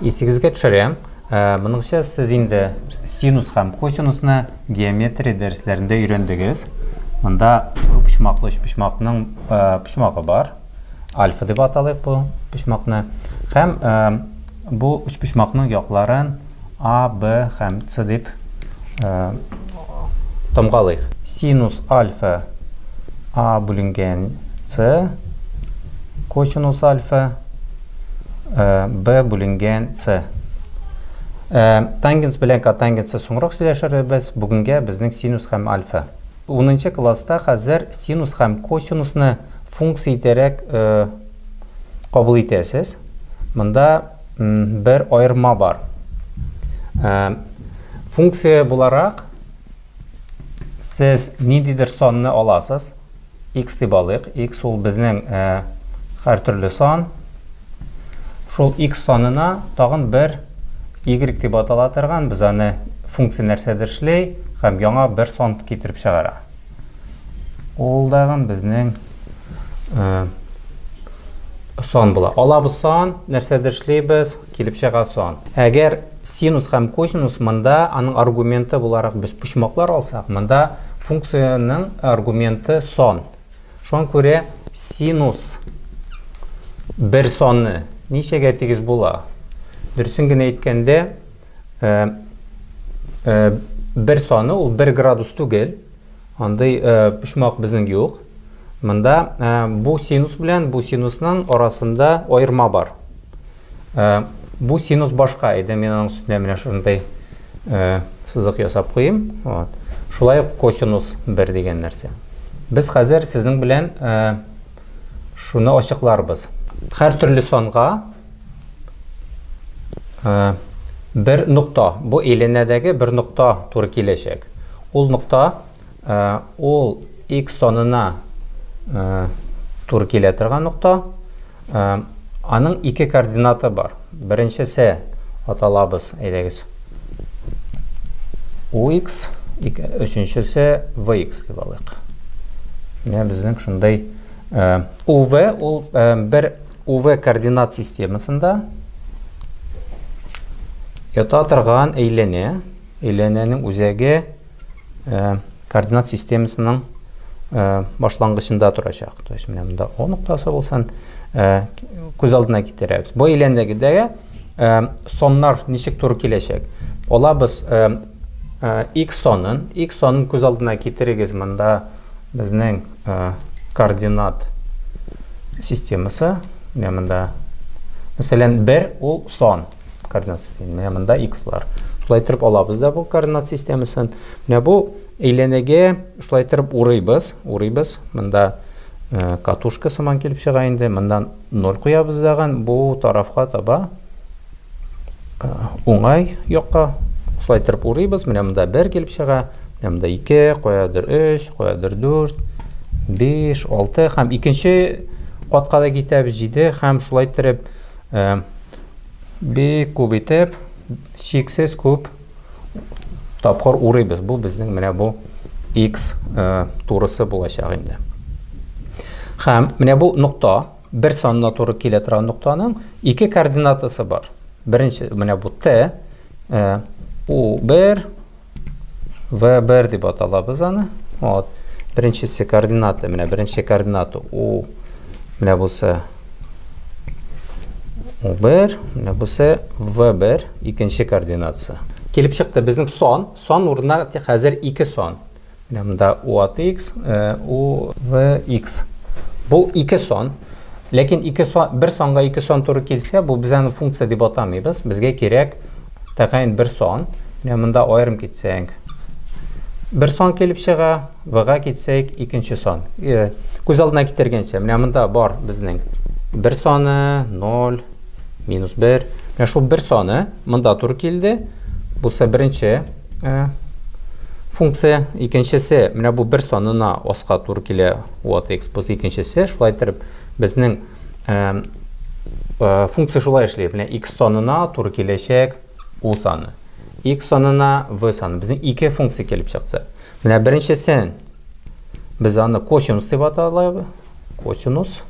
Исегезгә төшерәм, моныңча сез инде синус һәм косинусны геометрия дәресләрендә өйрәндегез. Монда почмаклы почмакның почмагы бар. Альфа дип аталыйк бу почмакны. Һәм бу уч почмакның якларын А, Б һәм С дип тамгалыйк. Синус альфа А бүленгән С, косинус альфа b бүленгән c тангенс белән котангенсны соңрак сөйләшербез бүгенгә безнең синус һәм альфа 10 класста хәзер синус һәм косинусны функция итәрәк кабул итәсез монда бер аерма бар функция буларак Сез ниндидер санны аласыз. X дип алыйк. X ул безнең ә, һәртөрле сан. Шул X санына тагын бер Y дип атала торган, без аны функция нәрсәдер эшлей һәм яңа бер сан китереп чыгара. Ул дагын безнең ә, сан була. Алабыз сан, нәрсәдер эшлибез, Килеп чыга сон. Әгәр синус һәм косинус монда аның аргументы буларак без почмаклар алсак, монда функциянең аргументы сон. Шуңа күрә синус бер соны ничәгә тигез була? Дөресен генә әйткәндә, бер соны ул бер градус түгел, Андый почмак безнең юк. Монда бу синус белән бу синусның арасында аерма бар. Бу синус башка иде, мин аның өстенә менә шундый сызык ясап куйым. Вот. Шулай ук косинус 1 дигән нәрсә. Без хәзер сезнең белән шуны ачыкларбыз. Һәр төрле санга Бер нокта, бу әйләнәдәге бер нокта туры киләчәк. Ул нокта, ул x санына туры килә торган нокта. Аның ике координаты бар. Беренчесе аталабыз, әйдәгез. UX, өченчесе VX дип алыйк. Менә безнең шундый UV ул бер UV координат системасында ята торган әйләнә, әйләнәнең үзәге э, координат системасының э, башлангычында торачак. То есть менә монда О ноктасы булсын, э, күз алдына китерәбез. Бу әйләнәгедәге соннар ничек туры киләчәк? Алабыз X санын, X санын күз алдына китерегез, монда безнең координат системасы, менә монда, мәсәлән, 1 ул сан координат системасы, менә монда X-лар. Шулай итеп алабыз да бу координат системасын. Менә бу әйләнәгә шулай итеп урыйбыз, урыйбыз. Монда катушка сыман килеп чыга инде, мондан 0 куябыз дагын, бу тарафка таба уңай якка шулай иттереп урыйбыз менә монда бер килеп чыга менә монда ике каядыр өч каядыр дүрт биш алты һәм икенче катка да китәбез җиде һәм шулай иттереп э, бик күп итеп чиксез күп тапкыр урыйбыз бу безнең менә бу x э, турысы булачак инде һәм менә бу нокта Бер санына туры килә торган ноктаның ике координатасы бар. Беренче, менә бу Т, э, У1, В1 дип аталабыз аны. Вот. Беренчесе координаты, менә беренче координаты У, менә бусы У1, менә бусы В1, икенче координатасы. Килеп чыкты безнең сон, сон урынына хәзер ике сон. Монда u аты x, u в x. Бу ике сон. Ләкин ике сон, бер санга ике сон туры килсә, бу без аны функция дип атамыйбыз. Безгә кирәк тәгаен бер сон. Менә монда аерым китсәң, бер сон килеп чыга, в-га китсәк, икенче сон. Күз алдына китергәнчә, менә монда бар безнең бер соны, 0, минус 1. Менә шул бер соны монда туры килде. Булса беренче Ә, функция икенчесе менә бу бер санына аска туры килә вот x плюс икенчесе шулай итеп безнең ә, ә, функция шулай эшли менә x санына туры киләчәк u саны x санына v саны безнең ике функция килеп чыкты менә беренчесен без аны косинус дип аталабыз косинус,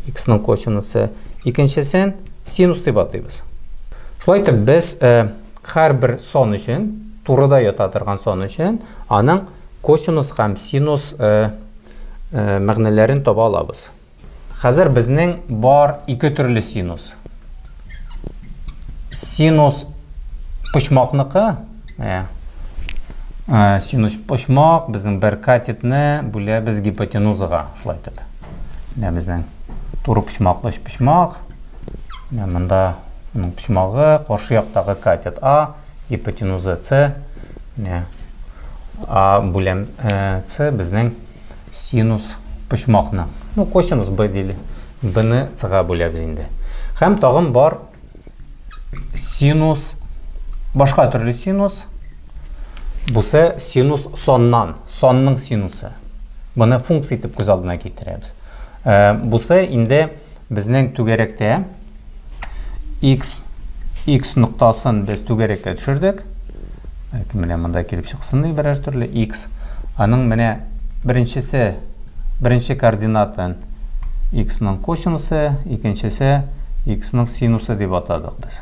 икснең косинусы, икенчесен синус дип атыйбыз. Шулай итеп, без э, һәрбер сон өчен, турыда ята торган сон өчен, аның косинус һәм синус э, э, мәгънәләрен таба алабыз. Хәзер безнең бар ике төрле синус. синус почмакныкы ә, ә, синус почмак безнең бер катетны бүләбез гипотенузага шулай итеп менә безнең туры почмаклы өч почмак менә монда моның почмагы каршы яктагы катет а гипотенуза с менә а бүләм э, с безнең Синус почмакны, ну косинус b дили, b'ны c-га бүләбез инде. Хәм тагын бар синус, башка төрле синус, бусы синус соннан, сонның синусы. Быны функция итеп күз алдына китерәбез. Э, бусы инде Безнең түгәрәктә x x ноктасын без түгәрәккә төшердек. Әки менә монда килеп чыксын ди берәр төрле x. Аның менә беренчесе беренче координатын x-ның косинусы, икенчесе x-ның синусы дип атадык без.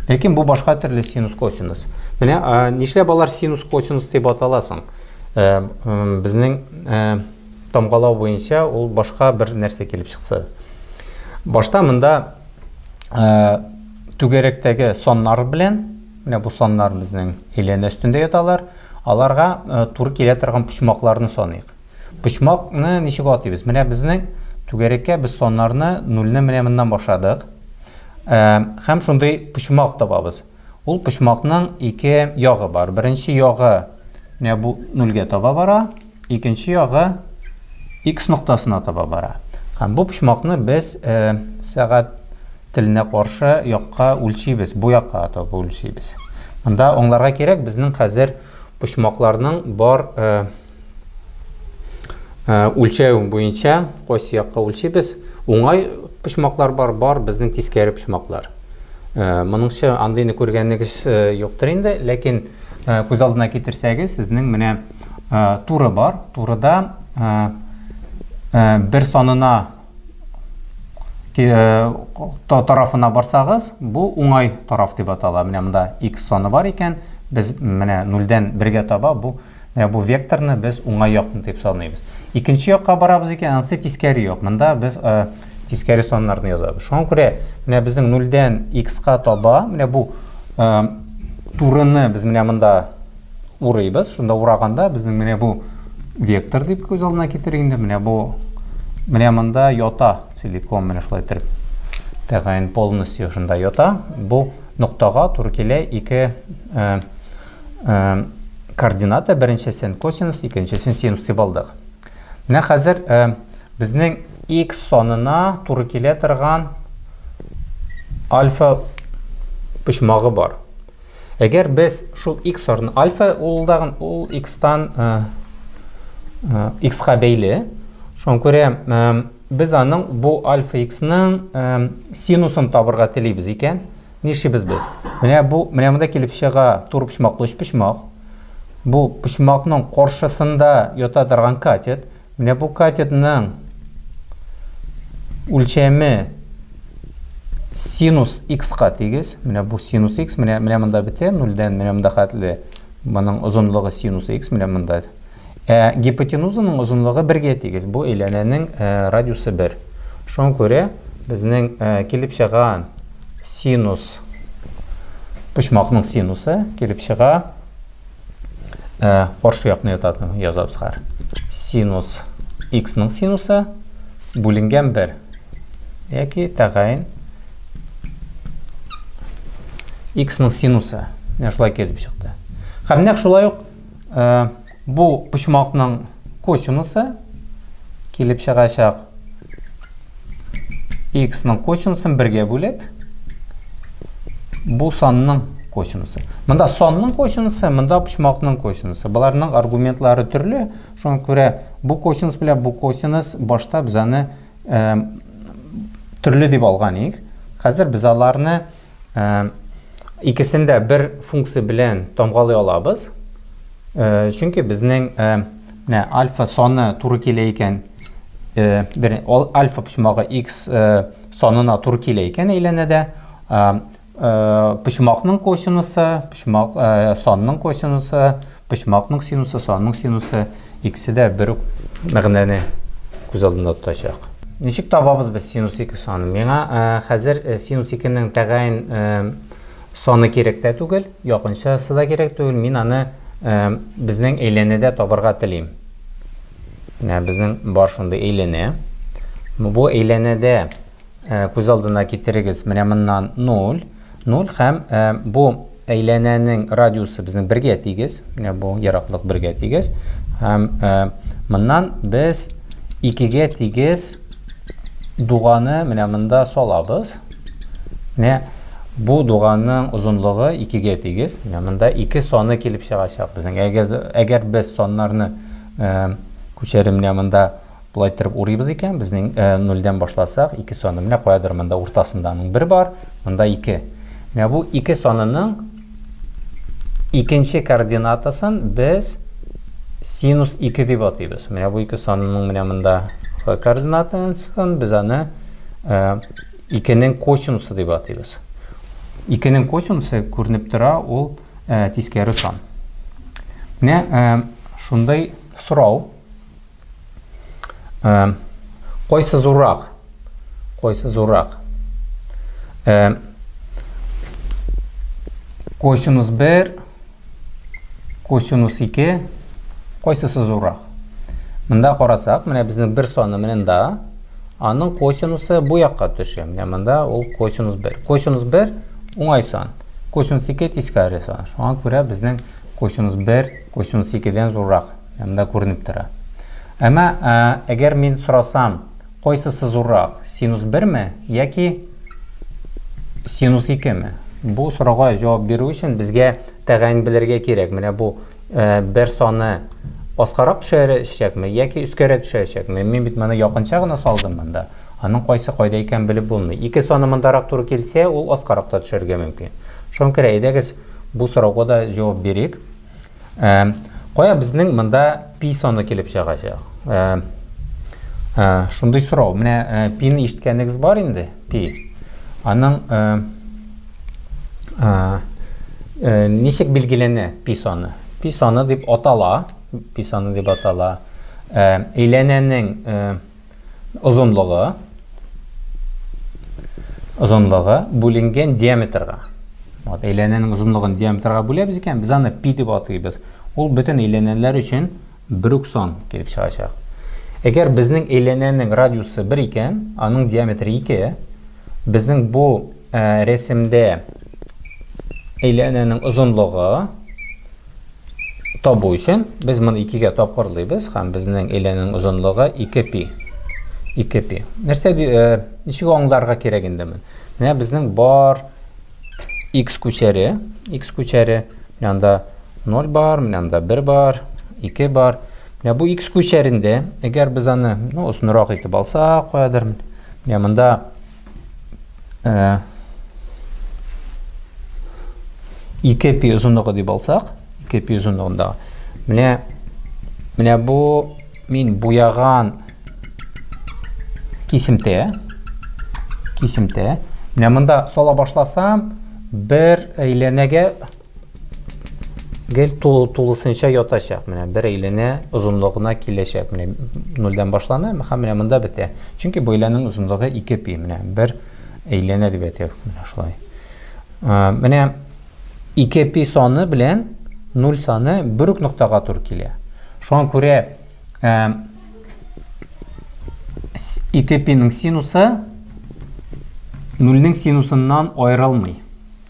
Ләкин бу башка төрле синус косинус. Менә нишләп алар синус косинус дип аталасың? Э, безнең э, тамгалау буенча ул башка бер нәрсә килеп чыкса. Башта монда түгәрәктәге саннар белән, менә бу саннар безнең әйләнә өстендә яталар, аларга туры килә торган почмакларны саныйк. Почмакны ничек атыйбыз? Менә безнең түгәрәккә без саннарны нульны менә моннан башладык. Һәм шундый почмак табабыз. Ул почмакның ике ягы бар. Беренче ягы менә бу нульгә таба бара, икенче ягы x ноктасына таба бара. Һәм бу почмакны без э, сәгать теленә каршы якка үлчибез, бу якка таба үлчибез. Монда аңларга кирәк, безнең хәзер почмакларның бар э, Э, үлчәү буенча кайсы якка үлчибез уңай почмаклар бар бар безнең тискәре почмаклар э, моныңча андыйны күргәнегез э, юктыр инде ләкин күз алдына китерсәгез сезнең менә туры бар турыда бер санына тарафына барсагыз бу уңай тараф дип атала менә монда x саны бар икән без менә нульдән бергә таба бу Менә бу векторны без уңай якны дип саныйбыз. Икенче якка барабыз икән, анысы тискәре як. Монда без э, тискәре саннарны язабыз. Шуңа күрә менә безнең 0-дән x-ка таба, менә бу э, турыны без менә монда урыйбыз. Шунда ураганда безнең менә бу вектор дип күз алдына китер инде. Менә бу менә монда ята целиком, менә шулай итеп. Тәгаен полностью шунда ята. Бу ноктага туры килә ике э, координата беренчесен косинус, икенчесен синус дип алдык. Менә хәзер безнең x санына туры килә торган альфа почмагы бар. Әгәр без шул x орны альфа ул дагын ул x-тан x-га бәйле. Шуңа күрә без аның бу альфа x-ның синусын табырга телибез икән, Нишлибез без? Менә бу, менә монда килеп чыга тур почмаклы өч почмак. Бу почмакның каршысында ята торган катет. Менә бу катетның үлчәме синус x-ка тигез. Менә бу синус x, менә менә монда бетә, нульдән менә монда хәтле. Моның озынлыгы синус x, менә монда. Ә гипотенузаның озынлыгы бергә тигез. Бу әйләнәнең э, радиусы бер. Шуңа күрә безнең э, килеп чыган синус почмакның синусы килеп чыга э, каршы якны ятатын язабыз хәр. Синус x-ның синусы бүленгән бер. Яки тәгаен x-ның синусы. Менә шулай килеп чыкты. Һәм нәкъ шулай ук Э, бу почмакның косинусы килеп чыгачак x ның косинусын бергә бүлеп бу санның косинусы. Монда санның косинусы, монда почмакның косинусы. Боларның аргументлары төрле, шуңа күрә бу косинус белән бу косинус башта без аны э, төрле дип алган идек. Хәзер без аларны Икесен дә бер функция белән тамгалый алабыз. Чөнки безнең менә альфа саны туры килә икән, бер альфа почмагы x санына туры килә икән әйләнәдә, почмакның косинусы, почмак санының косинусы Почмакның синусы, санның синусы, икесе дә бер үк мәгънәне күз алдында тотачак. Ничек табабыз без синус 2 санын? Миңа э, хәзер э, синус 2-нең тәгаен э, саны кирәк тә түгел, якынчасы да кирәк түгел. Мин аны безнең әйләнәдә табарга телим. Менә безнең бар шундый әйләнә. Бу әйләнәдә Э, күз алдына китерегез менә моннан 0 0 һәм э, бу әйләнәнең радиусы безнең бергә тигез менә бу ераклык бергә тигез һәм э, моннан без икегә тигез дуганы менә монда салабыз менә бу дуганның озынлыгы икегә тигез менә монда ике саны килеп чыгачак безнең әгәр, әгәр без саннарны ә, күчәремнә монда Болай иттереп урыйбыз икән, безнең э, нульдән башласак, ике саны. Менә каядыр монда уртасында аның бер бар, монда ике. Менә бу ике санының икенче координатасын без синус ике дип атыйбыз. Менә бу ике санының менә монда х координатасын без аны э, икенең косинусы дип атыйбыз. Икенең косинусы күренеп тора, ул э, тискәре сан. Менә э, шундай сорау. Ә, кайсы зуррак? Кайсы зуррак? Ә, косинус 1, косинус 2, кайсысы зуррак? Мында карасак, менә безнең бер саны менен да, аның косинусы бу якка төшә. Менә монда ул косинус 1. Косинус 1 уңай сан. Косинус 2 тискәре сан. Шуңа күрә безнең косинус 1 косинус 2 дән зуррак. Монда күренеп тора. Әмма ә, әгәр мин сорасам, кайсысы зуррак, синус берме яки синус икеме? Бу сорауга җавап бирү өчен безгә тәгаен белергә кирәк. Менә бу ә, бер саны аскарак төшәчәкме яки өскәрәк төшәчәкме? Мин бит моны якынча гына салдым монда. Аның кайсы кайда икән белеп булмый. Ике саны мондарак туры килсә, ул аскарак та төшәргә мөмкин. Шуңа күрә әйдәгез бу сорауга да җавап бирик. Ә, кая безнең монда пи саны килеп чыгачак? Ә, ә, шундый сорау. Менә ә, пини ишеткәнегез бар инде, пи. Аның ә, ә, ә, ничек билгеләнә пи саны? Пи саны дип атала, пи саны дип атала. Ә, әйләнәнең ә, Озынлыгы, озынлыгы бүленгән диаметрга. Вот, әйләнәнең озынлыгын диаметрга бүләбез икән, без аны пи дип атыйбыз. Ул бөтен әйләнәләр өчен бер үк сан килеп чыгачак. Әгәр безнең әйләнәнең радиусы бер икән, аның диаметры ике, безнең бу ә, рәсемдә әйләнәнең озынлыгы табу өчен без моны икегә тапкырлыйбыз һәм безнең әйләнүнең озынлыгы 2 пи. 2 пи. Нәрсә э, ничек аңларга кирәк инде мен? Менә безнең бар x күчәре, x күчәре, менә анда 0 бар, менә анда 1 бар, 2 бар. Менә бу x күчәрендә, әгәр без аны, ну, озынрак итеп алсак, куядыр. Менә монда ә, 2 пи озынлыгы дип алсак, 2 пи озынлыгында. Менә менә бу мин буяган кисемтә. Кисемтә. Менә монда сала башласам, бер әйләнәгә Гел тулы тулысынча ятачак. Менә бер әйләнә озынлыгына киләчәк. Менә 0-дән башлана, һәм менә монда бетә. Чөнки бу әйләнең озынлыгы 2 пи, менә бер әйләнә дип әйтәбез. Менә шулай. Менә 2 пи саны белән 0 саны бер үк ноктага туры килә. Шуңа күрә 2 пиның синусы 0-нең синусыннан аерылмый.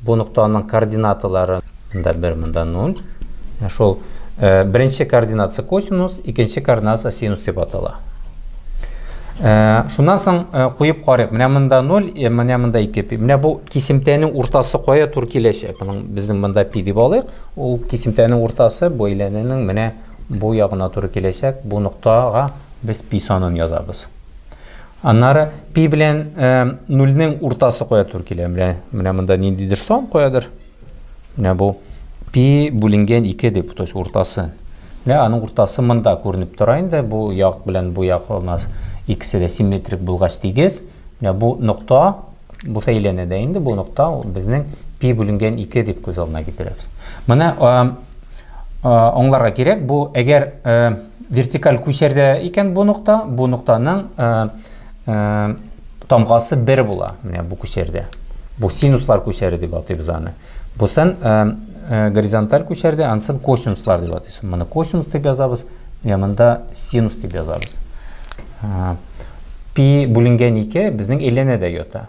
Бу ноктаның координаталары. Монда бер, монда нуль. Менә шул э, беренче координатасы косинус, икенче координатасы синус дип атала. Э, шуннан соң э, куеп карыйк. Менә монда 0, э, менә монда 2 пи. Менә бу кисемтәнең уртасы кая тур киләчәк? Моның безнең монда пи дип алыйк. Ул кисемтәнең уртасы бу әйләнәнең менә бу ягына туры киләчәк. Бу ноктага без пи санын язабыз. Аннары пи белән нульнең уртасы кая тур килә? Менә, менә монда ниндидер сон куядыр. Менә бу пи бүленгән 2 дип, то есть уртасы. Менә аның уртасы монда күренеп тора инде. Бу як белән бу як у нас икесе дә симметрик булгач тигез. Менә бу нокта, бу сәйләнә дә инде, бу нокта безнең пи бүленгән 2 дип күз алдына китерәбез. Менә аңларга кирәк, бу әгәр Вертикаль күчәрдә икән бу нокта, бу ноктаның э, э, тамгасы бер була, менә бу күчәрдә. Бу синуслар күчәре дип атыйбыз аны. Бусын э, э, горизонталь күчәрдә, ансын косинуслар дип атыйбыз. Моны косинус дип язабыз, менә монда синус дип язабыз. Э, пи бүленгән 2 безнең әйләнәдә ята.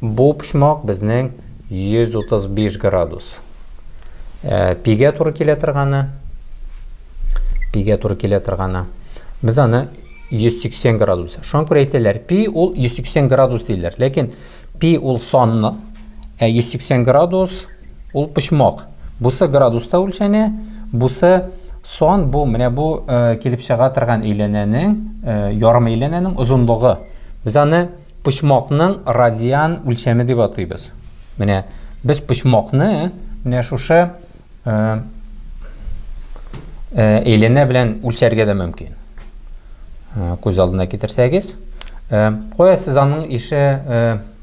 Бу почмак безнең 135 градус. Ә, пигә туры килә торганы. Пигә туры килә торганы. Без аны 180 градус. Шуңа күрә әйтәләр, пи ул 180 градус диләр. Ләкин пи ул санны, ә 180 градус ул почмак. Бусы градуста үлчәнә, бусы сон бу менә бу э, килеп чыга торган әйләнәнең э, ярым әйләнәнең озынлыгы. Без аны Почмакның радиан үлчәме дип атыйбыз. Менә без почмакны менә шушы әйләнә белән үлчәргә дә мөмкин. Күз алдына китерсәгез, кая сез аның ише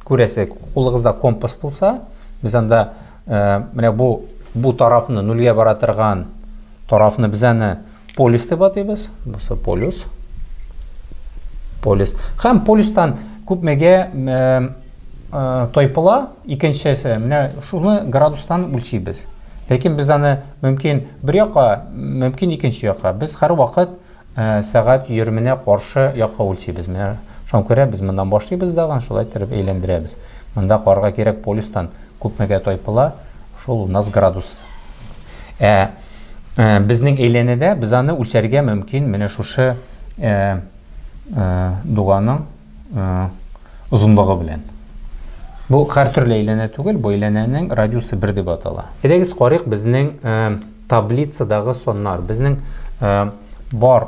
күрәсе, кулыгызда компас булса, без анда менә бу бу тарафны нульгә бара торган тарафны без аны Полюс дип атыйбыз. Бусы полюс. Полюс. Хәм полюстан күпмегә тайпыла, икенчесе. Менә шуны градустан үлчибез. Ләкин без аны мөмкин бер якка, мөмкин икенче якка. Без һәр вакыт сәгать йөрменә каршы якка үлчибез. Менә шуңа күрә без моннан башлыйбыз дагы, шулай итеп әйләндерәбез. Монда карга кирәк полюстан күпмегә тайпыла, шул у нас градус. Ә Э, безнең әйләнәдә без аны үлчәргә мөмкин менә шушы э, э, дуганың озынлыгы белән бу һәртөрле әйләнә түгел бу әйләнәнең радиусы бер дип атала әйдәгез карыйк безнең таблицадагы саннар безнең бар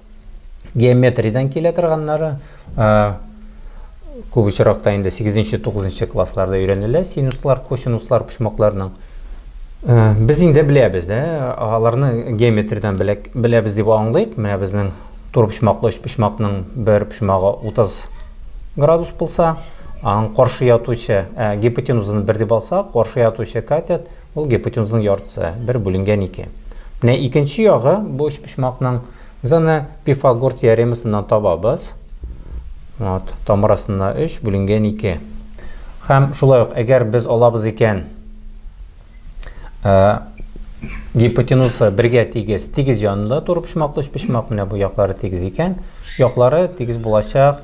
Геометриядән килә торганнары, күп очракта инде 8-9 классларда өйрәнелә синуслар, косинуслар почмакларның. Без инде беләбез, дә, аларны геометриядән беләбез дип аңлыйк. Менә безнең тур почмаклы өч почмакның бер почмагы 30 градус булса, аның каршы ятучы, гипотенузаны бер дип алсак, каршы ятучы катет Ул гипотенузның яртысы, бер бүленгән ике. Менә икенче ягы бу өчпочмакның. Без аны Пифагор теоремасыннан табабыз. Вот, тамыр астында 3 бүленгән 2. Һәм шулай ук, әгәр без алабыз икән, ә, гипотенуза бергә тигез, тигез янында туры почмаклы өчпочмак, менә бу яклары тигез икән, яклары тигез булачак,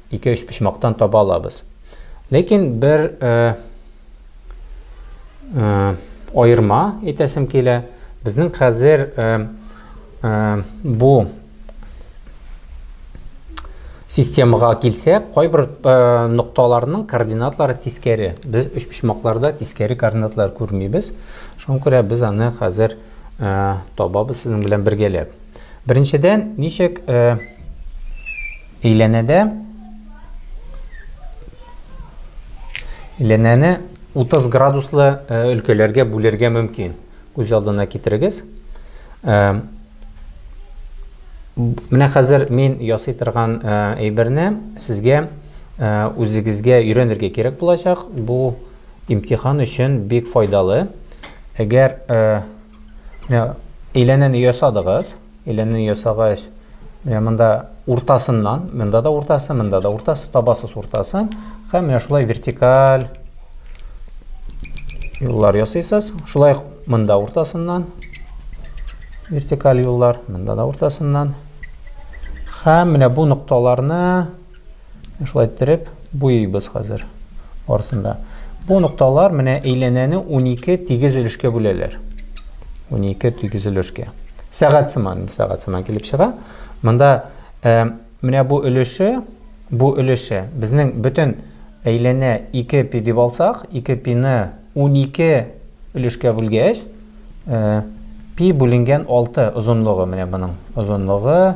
Ике-өч почмактан таба алабыз. Ләкин бер э, э, аерма әйтәсем килә. Безнең хәзер э, э, бу системага килсәк, кайбер э, нокталарның координатлары тискәре. Без өч почмакларда тискәре координатлар күрмибез. Шуңа күрә без аны хәзер э, табабыз сезнең белән бергәләп. Беренчедән, ничек э, Әйләнәдә Әйләнәне 30 градуслы э, өлкәләргә бүлергә мөмкин. Күз алдына китерегез. Э, менә хәзер мин ясый торган э, әйберне сезгә үзегезгә өйрәнергә кирәк булачак. Бу имтихан өчен бик файдалы. Әгәр әйләнәне ясадыгыз, Әйләнү ясагач, менә монда уртасыннан, монда да уртасы, монда да уртасы, табасыз уртасын һәм менә шулай вертикаль юллар ясыйсыз. Шулай ук монда уртасыннан вертикаль юллар, монда да уртасыннан. Һәм менә бу нокталарны Шулай иттереп буйыйбыз хәзер барысын да. Бу нокталар менә әйләнәне 12 тигез өлешкә бүләләр. 12 тигез өлешкә. Сәгать сыман, сәгать сыман килеп чыга. Монда ә, менә бу өлеше, бу өлеше безнең бөтен әйләнә 2 пи дип алсак, 2 пины 12 өлешкә бүлгәч, ә, пи бүленгән 6 озынлыгы менә моның. Озынлыгы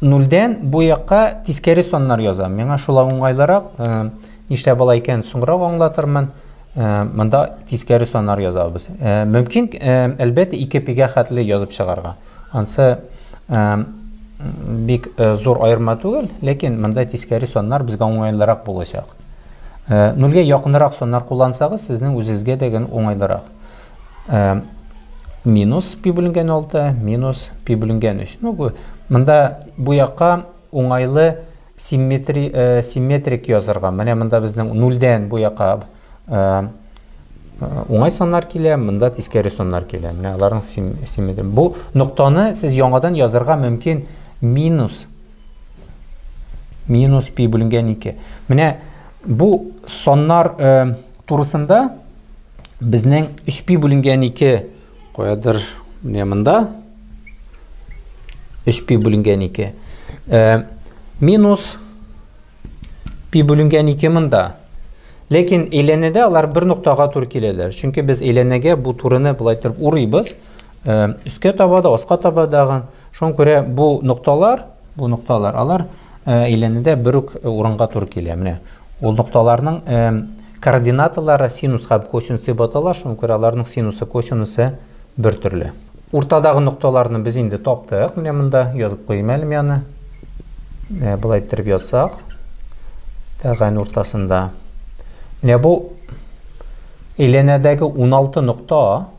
Нульдән бу якка тискәре саннар язам. Миңа шулай уңайлырак. Нишләп болай икән, соңрак аңлатырмын. Монда тискәре саннар язабыз. Мөмкин, әлбәттә, 2 пигә хәтле язып чыгарга. Ансы бик э, зур айырма түгел, ләкин монда тискәре саннар безгә уңайлырак булачак. Э, Нульгә якынрак саннар куллансагыз, сезнең үзегезгә дә генә уңайлырак. Ә, минус пи бүленгән 6, минус пи бүленгән 3. Ну, бу, монда бу якка уңайлы симметри, ә, э, симметрик язырга. Менә монда безнең 0-дән бу якка ә, уңай саннар килә, монда тискәре саннар килә. Менә аларның сим, симметри. Бу ноктаны сез яңадан язырга мөмкин минус минус пи бүленгән 2. Менә бу саннар э, Турысында безнең өч пи бүленгән ике куядыр менә монда өч пи бүленгән ике э, минус пи бүленгән ике монда ләкин әйләнәдә алар бер ноктага туры киләләр чөнки без әйләнәгә бу турыны былай торып урыйбыз Өскә таба да, аска таба дагы. Шуңа күрә бу нокталар, бу нокталар, алар әйләнүдә бер үк урынга туры килә. Менә ул нокталарның координаталары синус һәм косинус дип атала, шуңа күрә аларның синусы, косинусы бер төрле. Уртадагы нокталарны без инде таптык. Менә монда язып куйым әле яны. Менә болай иттереп язсак, тәгән уртасында. Менә бу әйләнәдәге 16 нокта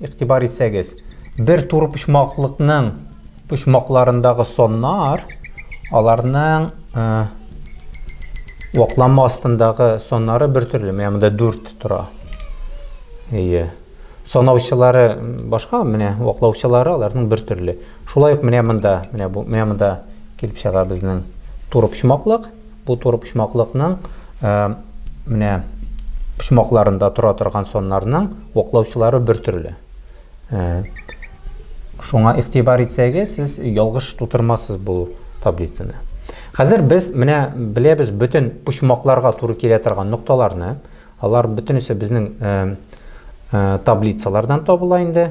Игътибар итсәгез, бер турыпочмаклыкның почмакларындагы соннар аларның э, вакланма астындагы соннары бер төрле. Менә монда 4 тора. Әйе. Санаучылары башка, менә ваклаучылары аларның бер төрле. Шулай ук менә монда, менә бу, менә монда килеп чыга безнең турыпочмаклык. Бу турыпочмаклыкның менә почмакларында тора торган соннарның оклаучылары бер төрле. Шуңа игътибар итсәгез, сез ялгыш тутырмассыз бу таблицаны. Хәзер без менә беләбез бөтен почмакларга туры килә торган нокталарны. Алар бөтенесе безнең таблицалардан табыла инде.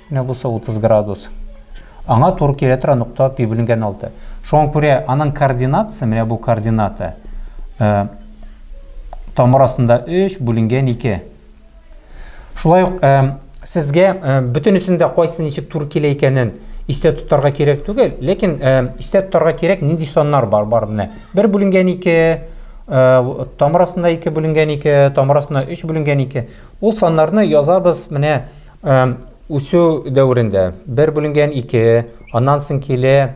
Менә бусы 30 градус. Аңа туры килә тора нокта пи бүленгән 6. Шуңа күрә аның координатасы, менә бу координата, э, тамыр астында 3 бүленгән 2. Шулай ук э, сезгә э, бөтенесендә кайсы ничек туры килә икәнен истә тотарга кирәк түгел, ләкин э, истә тотарга кирәк нинди саннар бар, бар менә. 1 бүленгән 2, э, тамыр астында 2 бүленгән 2, тамыр астында 3 бүленгән 2. Ул саннарны язабыз менә Үсү дәверендә бер бүленгән ике, аннан соң килә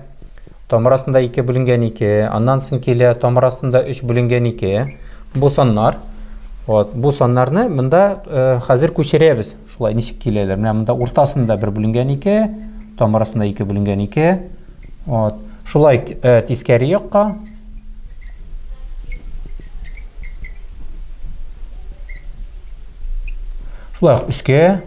тамыр астында ике бүленгән ике, аннан соң килә тамыр астында өч бүленгән ике. Бу саннар. Вот, бу саннарны монда э, хәзер күчерәбез. Шулай ничек киләләр? Менә монда уртасында бер бүленгән ике, тамыр астында ике бүленгән ике. Вот. Шулай э, тискәре якка Шулай ук өскә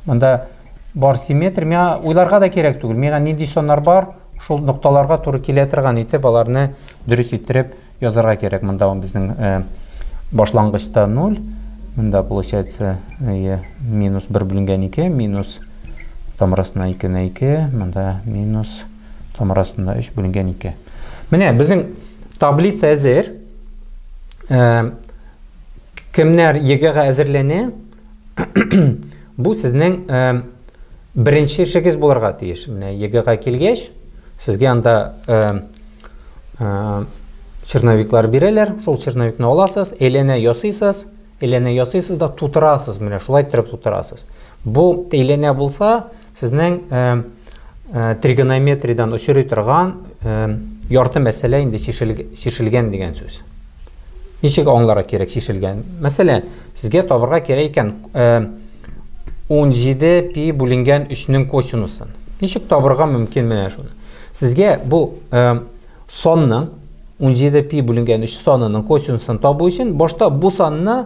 монда бар симметр миңа уйларга да кирәк түгел миңа нинди соннар бар шул нокталарга туры килә торган итеп аларны дөрес иттереп язарга кирәк монда безнең э, башлангычта 0 монда получается э, минус 1 бүленгән 2 минус тамырасына 2 на 2 монда минус 2 Тамыр астында 3 бүленгән 2. Менә безнең таблица әзер. Э, кемнәр ЕГЭга әзерләнә? Бу сезнең э, беренче эшегез булырга тиеш. Менә ЕГЭга килгәч, сезгә анда э, черновиклар бирәләр. Шул черновикны аласыз, әйләнә ясыйсыз, әйләнә ясыйсыз да тутырасыз. Менә шулай иттереп тутырасыз. Бу әйләнә булса, Сезнең тригонометриядән очрый торган ярты мәсьәлә инде чишелгән дигән сүз. Ничек аңлара кирәк чишелгән? Мәсәлән, сезгә табырга кирәк икән 17 пи бүленгән 3-нең косинусын. Ничек табырга мөмкин менә шуны? Сезгә бу санның 17 пи бүленгән 3 санының косинусын табу өчен башта бу санны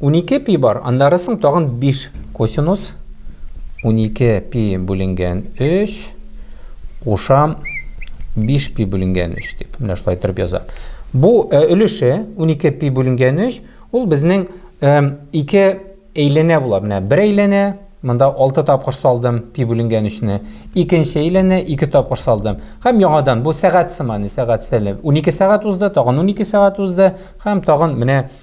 Унике пи бар, аннары соң тагын биш. Косинус унике пи бүленгән өч, кушам биш пи бүленгән өч дип, менә шулай торып яза. Бу э, өлеше унике пи бүленгән өч, ул безнең э, ике әйләнә була. Менә бер әйләнә, монда алты тапкыр салдым пи бүленгән өчне. Икенче әйләнә, ике тапкыр салдым. Һәм яңадан, бу сәгать сыманы, сәгать сәлем. Унике сәгать узды, тагын унике сәгать узды, һәм тагын менә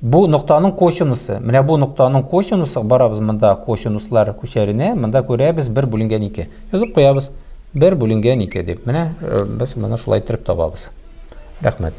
Бу ноктаның косинусы. Менә бу ноктаның косинусы, барабыз монда косинуслар күчәренә, монда күрәбез 1 бүленгән 2. Язып куябыз. 1 бүленгән 2 дип. Менә э, без моны шулай иттереп табабыз. Рәхмәт.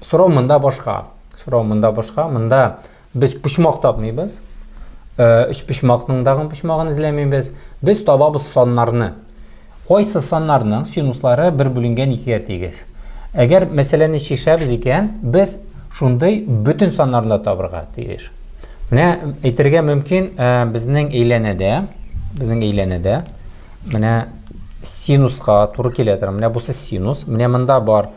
Сорау монда башка. Сорау монда башка. Монда без почмак тапмыйбыз. Э, өч почмакның дагын почмагын эзләмибез. Без табабыз саннарны. Кайсы саннарның синуслары бер бүленгән икегә тигез? Әгәр мәсьәләне чишәбез икән, без шундый бөтен саннарны табырга тиеш. Менә әйтергә мөмкин, э, безнең әйләнәдә, безнең әйләнәдә менә синуска туры килә тора. Менә бусы синус. Менә монда бар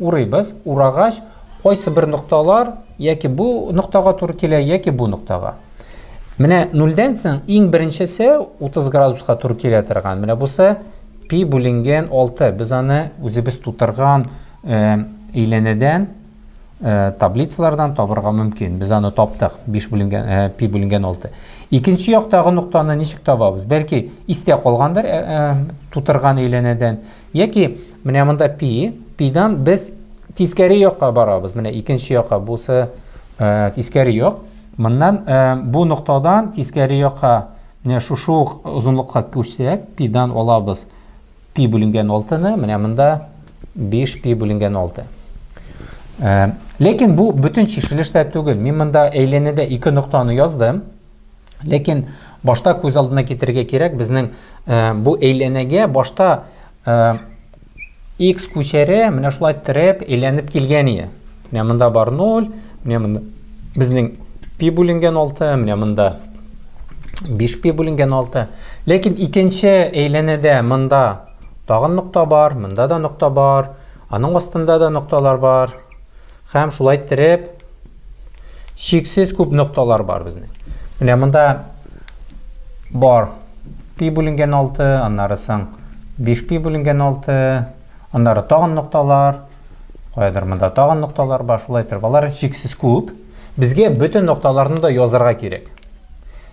Урыйбыз, урагач, кайсы бер нокталар яки бу ноктага туры килә, яки бу ноктага. Менә нульдән соң иң беренчесе 30 градуска туры килә торган. Менә бусы пи бүленгән 6. Без аны үзебез тутырган әйләнәдән, таблицалардан табырга мөмкин. Без аны таптык, 5 бүленгән, пи бүленгән 6. Икенче яктагы ноктаны ничек табабыз? Бәлки истә калгандыр тутырган әйләнәдән. Яки менә монда пи, пидан без тискәре якка барабыз. Менә икенче якка бусы э, тискәре як. Моннан э, бу ноктадан тискәре якка менә шушы ук озынлыкка күчсәк, пидан алабыз пи бүленгән 6-ны, менә монда 5 пи бүленгән 6. Э, ләкин бу бөтен чишелеш тә түгел. Мин монда әйләнәдә ике ноктаны яздым. Ләкин башта күз алдына китерергә кирәк, безнең э, бу әйләнәгә башта э, x күчәре менә шулай терәп, әйләнеп килгән иде. Менә монда бар 0, менә монда безнең пи бүленгән 6, менә монда 5 пи бүленгән 6. Ләкин икенче әйләнәдә монда тагын нокта бар, монда да нокта бар, аның астында да нокталар бар. Һәм шулай иттереп, чиксез күп нокталар бар безнең. Менә монда бар пи бүленгән 6, аннары соң 5 пи бүленгән 6, аннары тагын нокталар, каядыр монда тагын нокталар бар, шулай иттереп алар чиксез күп. Безгә бөтен нокталарны да язарга кирәк.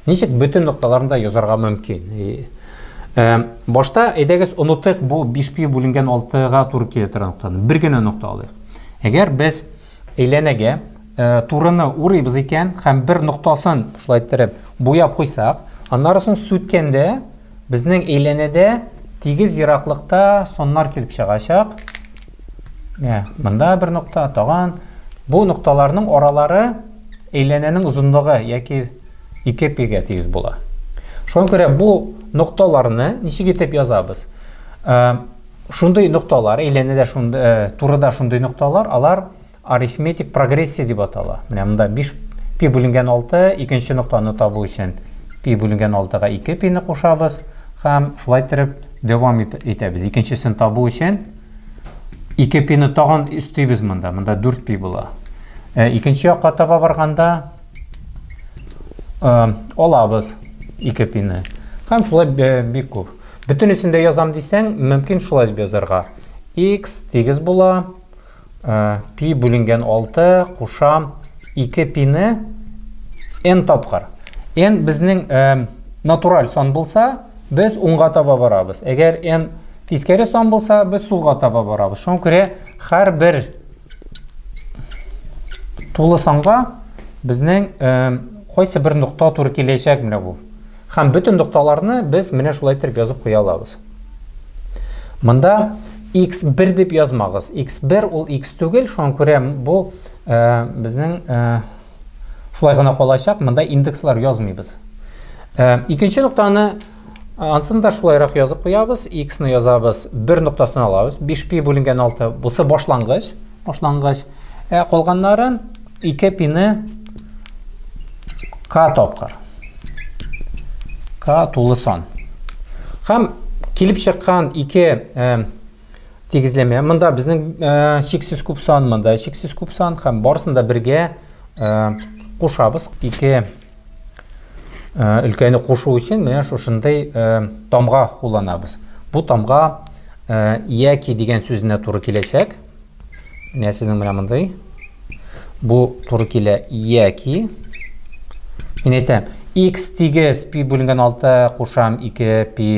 Ничек бөтен нокталарны да язарга мөмкин? Э, башта әйдәгез онытыйк бу 5 пи бүленгән 6-га туры килә торган ноктаны. Бер генә нокта алыйк. Әгәр без әйләнәгә э, турыны урыйбыз икән һәм бер ноктасын шулай иттереп буяп куйсак, аннары соң сүткәндә Безнең әйләнәдә тигез ераклыкта соннар килеп чыгачак. Менә монда бер нокта, таган. Бу нокталарның аралары әйләнәнең озынлыгы яки ике пигә тигез була. Шуңа күрә бу нокталарны ничек итеп язабыз? Шундый нокталар, әйләнәдә шундый, турыда шундый нокталар, алар Арифметик прогрессия дип атала. Менә монда 5 пи бүленгән 6, икенче ноктаны табу өчен пи бүленгән 6-га 2 пи-ны кушабыз һәм шулай иттереп дәвам итәбез. Икенчесен табу өчен 2 пи-ны тагын өстибез монда. Монда 4 пи була. Ә икенче якка таба барганда ә, алабыз 2 пи-ны. Һәм шулай бик күп. Бөтенесен дә язам дисәң, мөмкин шулай дип язарга. x тигез була Э, пи бүленгән 6 кушам 2 пины n тапкыр. n безнең э, натураль сан булса, без уңга таба барабыз. Әгәр n тискәре сан булса, без сулга таба барабыз. Шуңа күрә һәр бер тулы санга безнең э, кайсы бер нокта туры киләчәк менә бу. Һәм бөтен нокталарны без менә шулай итеп язып куя алабыз. Монда x1 дип язмагыз. x1 ул x түгел, шуңа күрә бу э, безнең э, шулай гына калачак, монда индекслар язмыйбыз. Э, икенче ноктаны Ансын да шулайрак язып куябыз, x-ны язабыз, бер ноктасын алабыз, 5 пи бүленгән 6, бусы башлангыч, башлангыч. Ә калганнарын 2 пины k тапкыр. k тулы сан. Һәм килеп чыккан ике э, тигезләмә. Монда безнең э, чиксез күп сан, монда чиксез күп сан һәм барысын да бергә э, кушабыз. Ике э, өлкәне кушу өчен менә шушындый э, тамга кулланабыз. Бу тамга э, яки дигән сүзенә туры киләчәк. Менә сезнең менә мондый. Бу туры килә яки Мин әйтәм, x тигез пи бүленгән 6 кушам 2 пи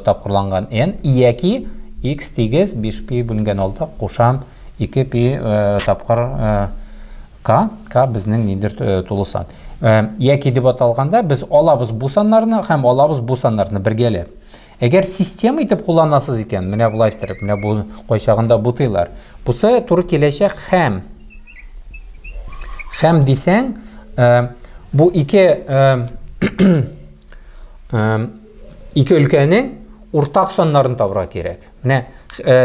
тапкырланган n яки x тигез 5 пи бүленгән 6 кушам 2 пи э, тапкыр э, k k безнең нидер э, тулы сан. Яки дип аталганда без алабыз бу саннарны һәм алабыз бу саннарны бергәләп. Әгәр система итеп кулланасыз икән, менә болай иттереп, менә бу кайчагында бутыйлар. Бусы туры киләчәк хәм. Хәм дисәң, э, бу ике э, э, ике өлкәнең уртак саннарын табырга кирәк. Менә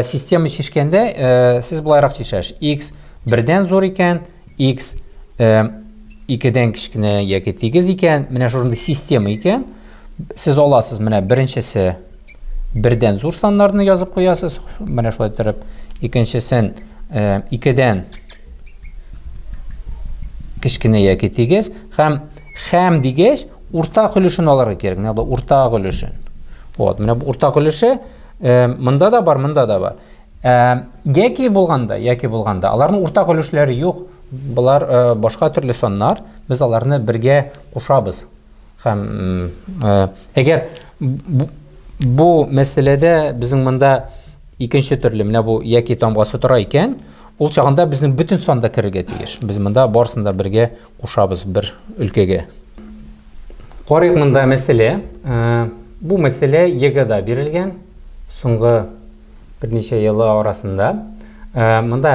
система чишкәндә сез болайрак чишәш. X бердән зур икән, x э, икедән кечкенә яки тигез икән, менә шундый система икән, сез аласыз менә беренчесе бердән зур саннарны язып куясыз, менә шулай торып, икенчесен э, икедән кечкенә яки тигез һәм һәм дигәч уртак өлешен алырга кирәк. Менә бу уртак өлешен. Вот, менә бу уртак өлеше э, монда да бар, монда да бар. Ә, яки булганда, яки булганда, аларның уртак өлешләре юк, болар ә, башка төрле саннар, без аларны бергә кушабыз. Хәм, ә, әгәр бу, бу мәсьәләдә безнең монда икенче төрле, менә бу яки тамгасы тора икән, ул чагында безнең бөтен санда керергә тиеш. Без монда барысын да бергә кушабыз бер өлкәгә. Карыйк монда мәсьәлә. Ә, бу мәсьәлә егыда бирелгән. Соңгы Берничә елы арасында. Ә, монда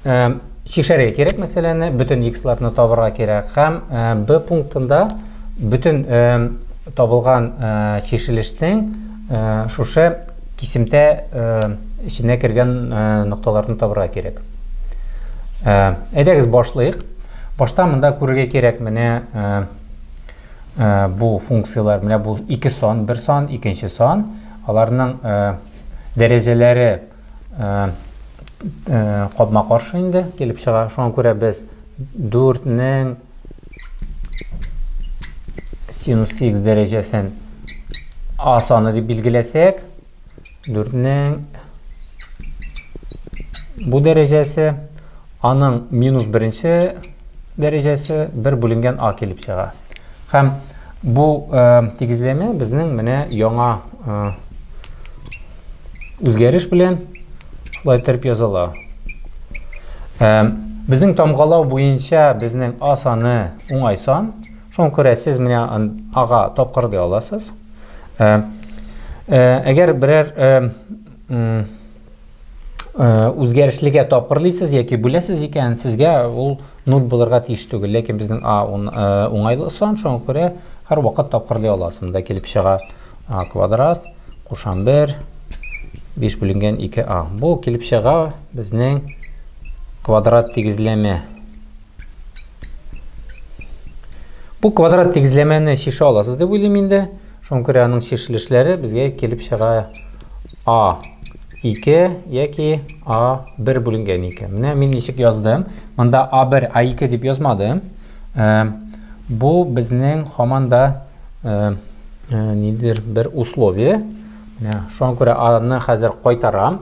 ә, чикшәргә кирәк мәсьәләне, бөтен x-ларны табырга кирәк. Һәм ә, b пунктында бөтен ә, табылган ә, чишелешнең ә, шушы кисемтә ә, эченә кергән ә, нокталарны табырга кирәк. Ә, әйдәгез башлыйк. Башта монда күрергә кирәк менә ә, Бу функцияләр менә бу ике сан, бер сан, икенче сан. Аларның дәрәҗәләре капма каршы инде килеп чыга. Шуңа күрә без 4 нең синус x дәрәҗәсен а саны дип билгеләсәк, дүртнең бу дәрәҗәсе аның минус беренче дәрәҗәсе бер бүленгән а килеп чыга һәм бу ә, тигезләмә безнең менә яңа ә, үзгәреш белән шулай итеп языла ә, безнең тамгалау буенча безнең а саны уңай сан Шуңа күрә сез менә ага тапкыр ди аласыз. Э, э, әгәр берәр э, үзгәрешлегә тапкырлыйсыз яки бүләсез икән, сезгә ул 0 булырга тиеш түгел. Ләкин безнең а уңайлы сан, шуңа күрә һәр вакыт тапкырлый аласыз. Монда килеп чыга а квадрат, кушам 1, 5 бүленгән 2а. Бу килеп чыга безнең квадрат тигезләмә. Бу квадрат тигезләмәне чишә аласыз дип уйлыйм инде. Шуңа күрә аның чишелешләре безгә килеп чыга А2 яки А1 бүленгән икән. Менә мин ничек яздым. Монда А1, А2 дип язмадым. Э, бу безнең һаман да э, э, нидер бер условие. Менә шуңа күрә аны хәзер кайтарам.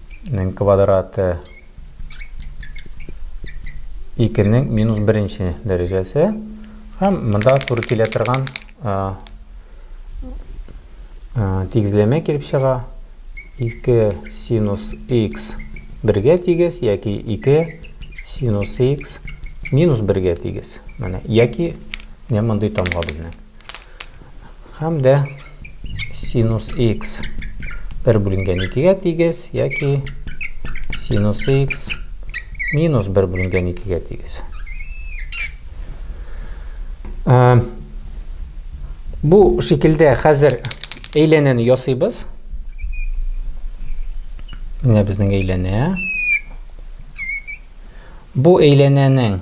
Нең квадраты 2 нең минус беренче дәрәҗәсе һәм монда туры килә торган тигезләмә килеп чыга 2 синус x бергә тигез яки 2 синус x минус бергә тигез менә яки менә мондый тамга безнең һәм дә синус x бер бүленгән икегә тигез яки синус x минус бер бүленгән икегә тигез ә, бу шикелдә хәзер әйләнәне ясыйбыз менә безнең әйләнә бу әйләнәнең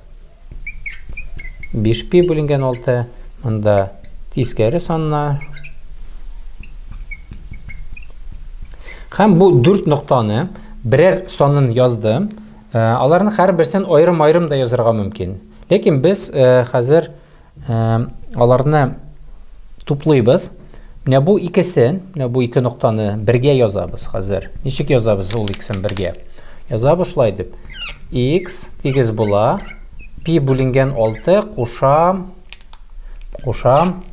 5 пи бүленгән 6 монда тискәре санна һәм бу 4 ноктаны берәр санын яздым аларны һәрберсен аерым-аерым да язырга мөмкин ләкин без хәзер Аларны туплыйбыз. Менә бу икесен, менә бу ике ноктаны бергә язабыз хәзер. Ничек язабыз ул икесен бергә? Язабыз шулай дип. X тигез була. Пи бүленгән 6 кушам. Кушам.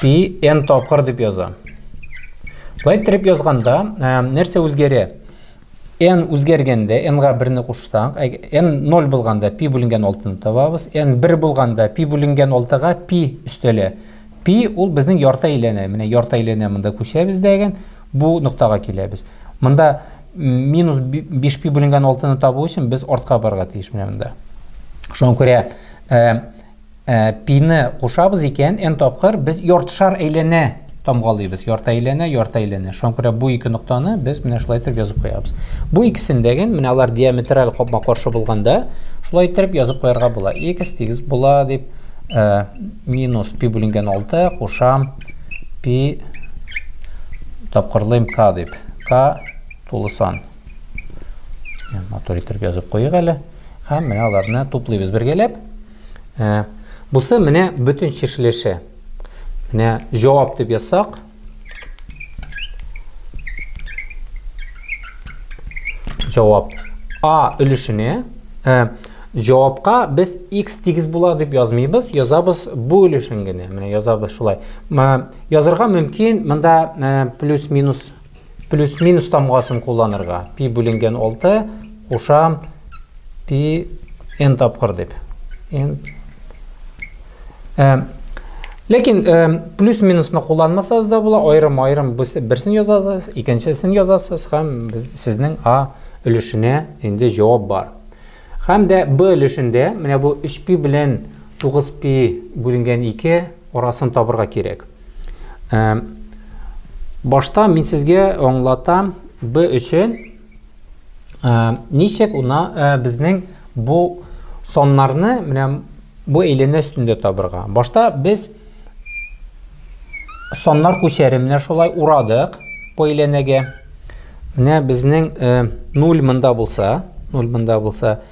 Пи n тапкыр дип язам. Байтрип язганда, нәрсә үзгәрә? n үзгәргәндә n-га берне кушсаң, n 0 булганда пи бүленгән 6-ны табабыз, n 1 булганда пи бүленгән 6-га пи өстәлә. Пи ул безнең ярты әйләнә, менә ярты әйләнә монда күчәбез дәген, бу ноктага киләбез. Монда минус 5 пи бүленгән 6-ны табу өчен без артка барырга тиеш менә монда. Шуңа күрә Ә, пины кушабыз икән, n тапкыр без яртышар әйләнә тамгалыйбыз. Ярты әйләнә, ярты әйләнә. Шуңа күрә бу ике ноктаны без менә шулай итеп язып куябыз. Бу икесендәген, менә алар диаметраль капма каршы булганда, шулай итеп язып куярга була. X тигез була дип, ә, минус пи бүленгән 6 кушам пи тапкырлыйм k дип. K тулы сан. Матур итеп язып куйыйк әле. Һәм менә аларны туплыйбыз бергәләп. Ә, бусы менә бүтін чишелеше. Менә җавап дип язсак. Җавап А өлешенә. Ә, җавапка без x тигез була дип язмыйбыз, язабыз бу өлешен генә. Менә язабыз шулай. Язырга мөмкин, монда плюс-минус Плюс-минус тамгасын кулланырга. Пи бүленгән 6, кушам пи n тапкыр дип. N Ләкин плюс-минусны кулланмасагыз да була, аерым-аерым берсен язасыз, икенчесен язасыз һәм сезнең А өлешенә инде җавап бар. Һәм дә Б өлешендә менә бу 3π белән 9π бүленгән 2 арасын табырга кирәк. Башта мин сезгә аңлатам B өчен ничек уна безнең бу соннарны менә бу әйләнә өстендә табырга. Башта без соннар күчәре менә шулай урадык бу әйләнәгә. Менә безнең 0 монда булса, 0 монда булса,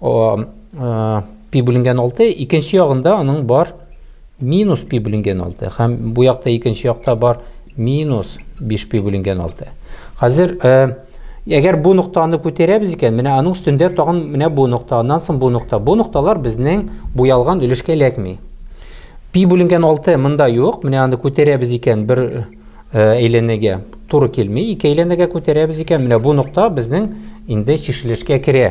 пи бүленгән 6, икенче ягында аның бар минус пи бүленгән 6. Һәм бу якта икенче якта бар минус 5 пи бүленгән 6. Хәзер әгәр бу ноктаны күтәрәбез икән, менә аның өстендә тагын менә бу нокта, аннан соң бу нокта. Бу нокталар безнең буялган өлешкә эләкми. Пи бүленгән 6 монда юк. Менә аны күтәрәбез икән, бер әйләнәгә туры килми. Ике әйләнәгә күтәрәбез икән, менә бу нокта безнең инде чишелешкә керә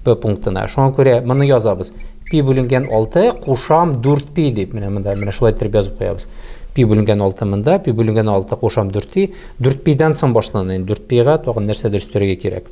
P пунктына. Шуңа күрә моны язабыз. P бүленгән 6 кушам 4P дип, менә монда менә шулай итеп язып куябыз. P бүленгән 6 монда, P бүленгән 6 кушам 4P. 4P-дән соң башлана. 4P-га тагын нәрсәдер өстәргә кирәк.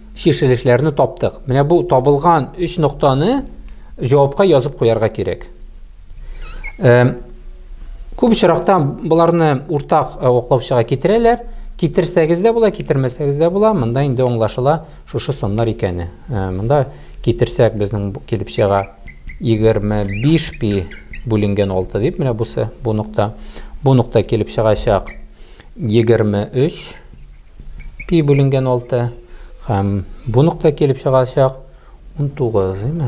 Чишелешләрне таптык. Менә бу табылган өч ноктаны җавапка язып куярга кирәк. Күп очракта боларны уртак оклаучыга китерәләр. Китерсәгез дә була, китермәсәгез дә була. Монда инде аңлашыла шушы саннар икәне. Монда китерсәк безнең килеп чыга 25 пи бүленгән 6 дип менә бусы бу нокта. Бу нокта килеп чыгачак 23 Пи бүленгән 6 һәм бу нокта килеп чыгачак 19, димме?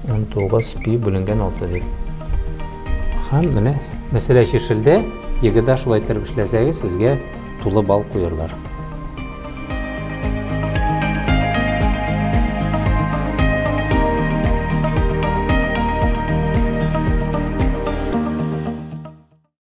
19 пи бүленгән 6 дип. Һәм менә мәсьәлә чишелде. Егыда шулай итеп эшләсәгез, сезгә тулы бал куерлар.